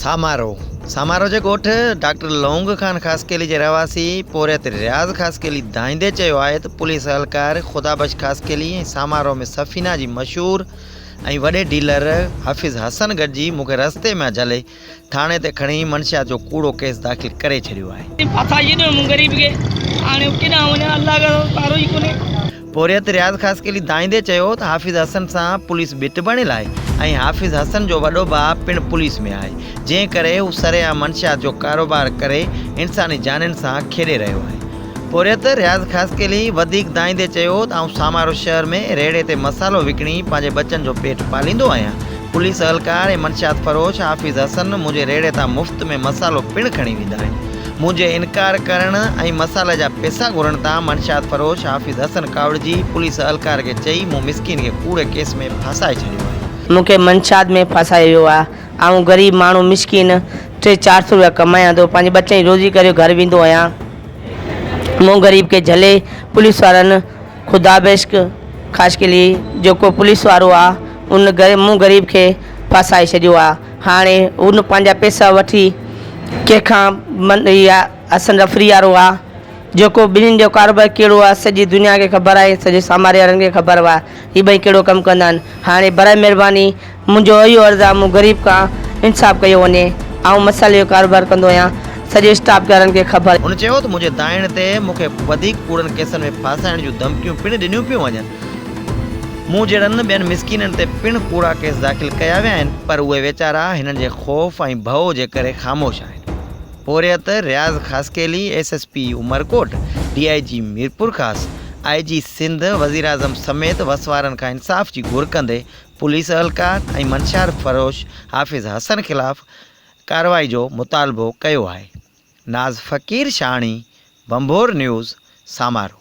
سامارو، سامارو جي ڳوٺ ڊاڪٽر لونگ خان خاصخيلي جي رهواسي پورهيت رياض خاصخيلي دانهيندي چيو آهي ته پوليس اهلڪار خدا بخش خاصخيلي ۽ سامارو ۾ سفينه جي مشهور ۽ وڏي ڊيلر حافظ حسن گڏجي مون کي رستي مان جهلي ٿاڻي تي کڻي منشيات جو ڪوڙو ڪيس داخل ڪري ڇڏيو آهي. پورهيت رياض خاصخيلي دانهيندي چيو ته حافظ حسن سان پوليس ڀت بڻيل آهي ۽ حافظ حسن جو وڏو ڀاء پڻ پوليس ۾ آهي جنهن ڪري هو سرعام منشيات جو ڪاروبار ڪري انساني جانين سان کيڏي رهيو آهي. پورهيت رياض خاصخيلي وڌيڪ دانهيندي چيو ته آئون سامارو شهر ۾ ريڙهي تي مصالحو وڪڻي پنهنجي ٻچن جو پيٽ پاليندو آهيان، پوليس اهلڪار ۽ منشيات فروش حافظ حسن منهنجي ريڙهي تان مفت ۾ مصالحو پڻ کڻي ويندا آهن، منهنجي انڪار ڪرڻ ۽ مصالحي جا پيسا گهرڻ تان منشيات فروش حافظ حسن ڪاوڙجي پوليس اهلڪار کي چئي مون مسڪين کي ڪوڙي ڪيس ۾ ڦاسائي ڇڏيو آهي. مون کي منشيات ۾ ڦاسايو ويو آهي. آئون غريب ماڻهو مسڪين ٽي چار سو روپيا ڪمايان ٿو پنهنجي ٻچن جي روزي ڪري گهر ويندو آهيان مون غريب کي جهلي پوليس وارن خدا بيشڪ خاص قلعي جيڪو پوليس وارو آ ان غريب مون غريب کي ڦاسائي ڇڏيو آ هاڻي ان پنهنجا پيسا وٺي ڪنهن کان من اها حسن رفري وارو آ جيڪو ٻنهين جو ڪاروبار ڪهڙو آ سڄي دنيا کي خبر آهي سڄي ساماري وارن کي خبر آ هي ٻئي ڪهڙو ڪم ڪندا آهن هاڻي برائي مهرباني منهنجو اهو عرض آ مون غريب کان انصاف ڪيو وڃي آئون مصالحي جو ڪاروبار ڪندو آهيان سڄي اسٽاف جارن کي خبر. هن چيو ته منهنجي دانهن تي مون کي وڌيڪ ڪوڙن ڪيسن ۾ ڦاسائڻ جون ڌمڪيون پڻ ڏنيون پيون وڃن مون جهڙن ٻين مسڪينن تي پڻ ڪوڙا ڪيس داخل ڪيا ويا آهن پر اهي ويچارا هنن جي خوف ۽ ڀئو جي ڪري خاموش آهن پورهيت Riaz Khaskheli S S P Umerkot D I G Mirpurkhas I G Sindh وزيراعظم سميت وس وارن کان انصاف جي گهر ڪندي پوليس اهلڪار ۽ منشيات فروش حافظ حسن خلاف ڪارروائي جو مطالبو ڪيو آهي. ناز فقير شاهڻي، ڀنڀور نيوز، سامارو.